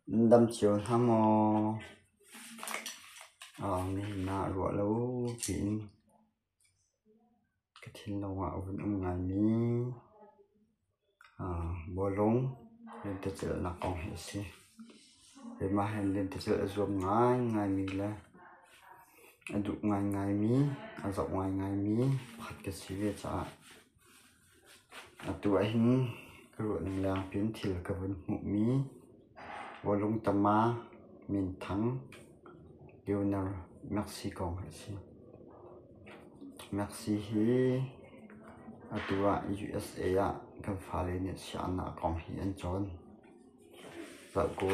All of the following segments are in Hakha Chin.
Nan dam cio hna maw? Na ruah lo tiin ka thinlung ah a vun um ngaimi bawlung lentecelhnak kong hi a si. Keimah hi lentecelh a zuam ngaingaimi le a duh ngaingaimi, a zoh ngaingaimi pakhat ka si ve caah. Atu ahhin ka ruahning lengin thil ka vun hmuhmi Vawlung tama, minthang, Leonard Maxi kong a si. Maxi hi atu ah USA ah kan fale nih sianginn ah kong hi an cawn. Zoh kaw.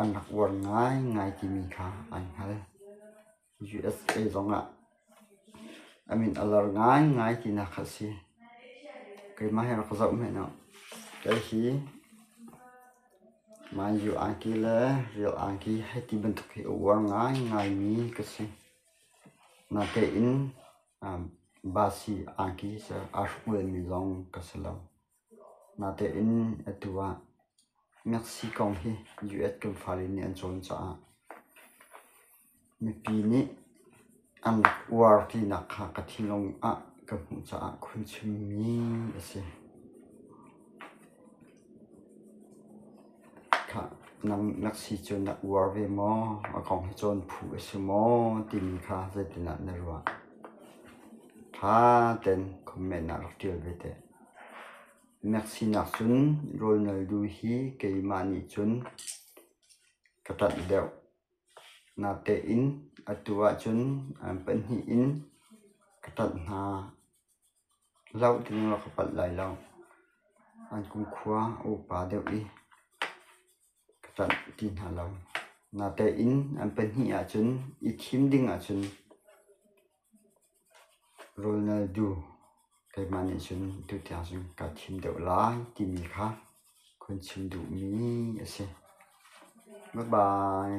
An rak uar ngaingai timi kha an hngal. USA zongah a min a lar ngaingai tinak kha a si. Keimah hi a rak ka zoh hmanh u. Kei hi Mai U Aungki le Real Aungki hei ti bantuk hi a uar ngaingaimi ka si. Natein Basi Aungki aa hruk lenmi zong ka si lo. Nate in atu ah Meksi kong hi US kan fale nih an cawn caah mipi nih an rak uar tinak kha ka thinlung ah ka hmuh caah khun chimmi a si. Khah nang Meksi cu na uar ve maw? A kong hi cawn phu a si maw timi kha zeitindah na ruah? Ṭha tein comment ah rak ṭial ve teh. Na sinak cun rawlnal du hi keimah nih cun ka ṭanh deuh. Natein atu ahcun an pahnih in ka ṭanh hna. Hlauh ding rak ka palh lai lo. An kumkhua a upa deuh i. ka tlanh ti hna lo. Natein an pahnih ahcun i thim ding ahcun Ronaldo keimah nih cun tutiang cun kaa thim deuh lai timi kha kun chim duhmi a si. Bye bye.